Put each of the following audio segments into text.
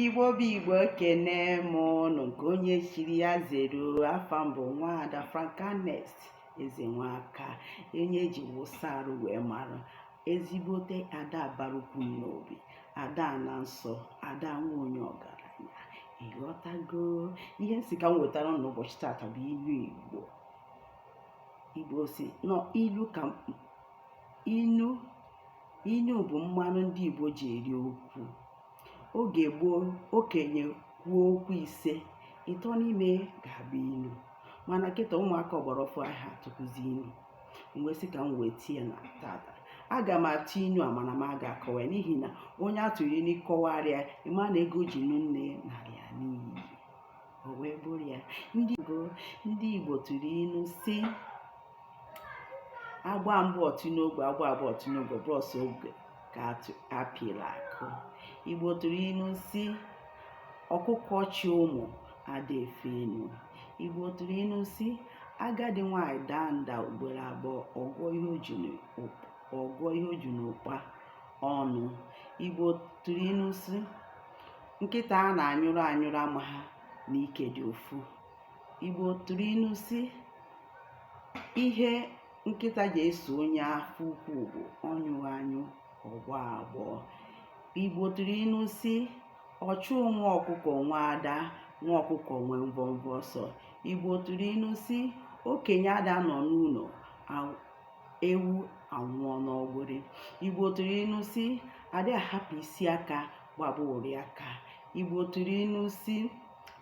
igbo bụ igbo ekene m ụnụ nke onye chiri ya zere afa m bụ nwaada frankanest ezenwaka onye eji wụsa arụ wee mara ezigbote ada bara ukwu n'obi ada ana nsọ ada nwa onye ọgaranya ịghọtago ihe m si ka m wetara ụnụ ụbọchị tata bụ inu igbo igbo si na ilu ka inu inu bụ mmanụ ndị Igbo ji eri okwu oge gboo okenye kwuo okwu ise ịtọ n'ime ga-abụ inu mana kịta ụmụaka ọgbara ọfụụ aha atụkwụzi inu m wee sị ka m wee tie na tata aga m atụ inu a mana m aga akọwa ya n'ihi na onye a tụrụ inu kọwara ya ịma na ego e ji nụ nne narịa n'iyi o wee bụrụ ya ndị Igbo tụrụ inu si a gbaa mbụ ọ tụọ n'ogwe a gbaa abụọ ọ tụọ n'ogwe bụ sọ ogwe ka a pịla akụ igbo tụrụ inu si ọkụkọ chị ụmụ ada efe enu igbo tụrụ inu si agadi nwanyị daa nda ugboro abụọ ọ gụọ ihe o ji n'ụkpa ọnụ igbo tụrụ inu si nkịta a na-anyụrụ anyụrụ amaha na ike dị ụfụ Igbo tụrụ inu si ihe nkịta ji eso onye afọ ukwu bụ ọ nyụọ anyụ ọ gbọọ agbọ. Igbo tụrụ inu si ọchụ nwa ọkụkọ nwe ada nwa ọkụkọ nwe mvọmvọ ọsọ. Igbo tụrụ inu si okenye ada anọ n'ụnọ ewu anwụọ n'ọgbụrị. Igbo tụrụ inu si adị ahapụ isi aka gbaba ụrị aka. Igbo tụrụ inu si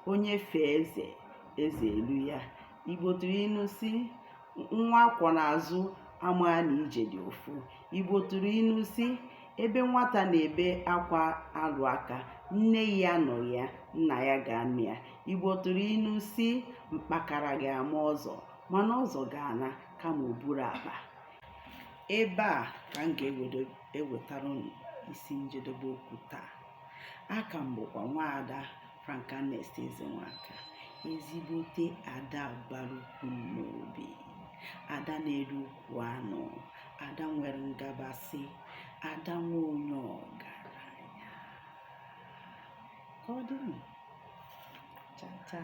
onye fee eze eze eluo ya igbo tụrụ inu si nwa a kwọ n'azụ amaha na ije dị ụfụ igbo tụrụ inu si ebe nwata na-ebe akwa alụ aka nne ya anọghị ya nna ya ga-anọ ya igbo tụrụ inu si mkpakara ga-ama ọzọ mana ọzọ ga-ana kama o buru akpa ebe a ka m ga-ewetara isi njedebe okwu taa Aka m bụkwa nwaada Frankanest Ezenwaka, ezigbote ada bara ukwu n'obi, ada na-eri ukwu anụ, ada nwere ngabasị, ada nwa onye ọgaranya. Ka ọ dịnụ. Cha cha.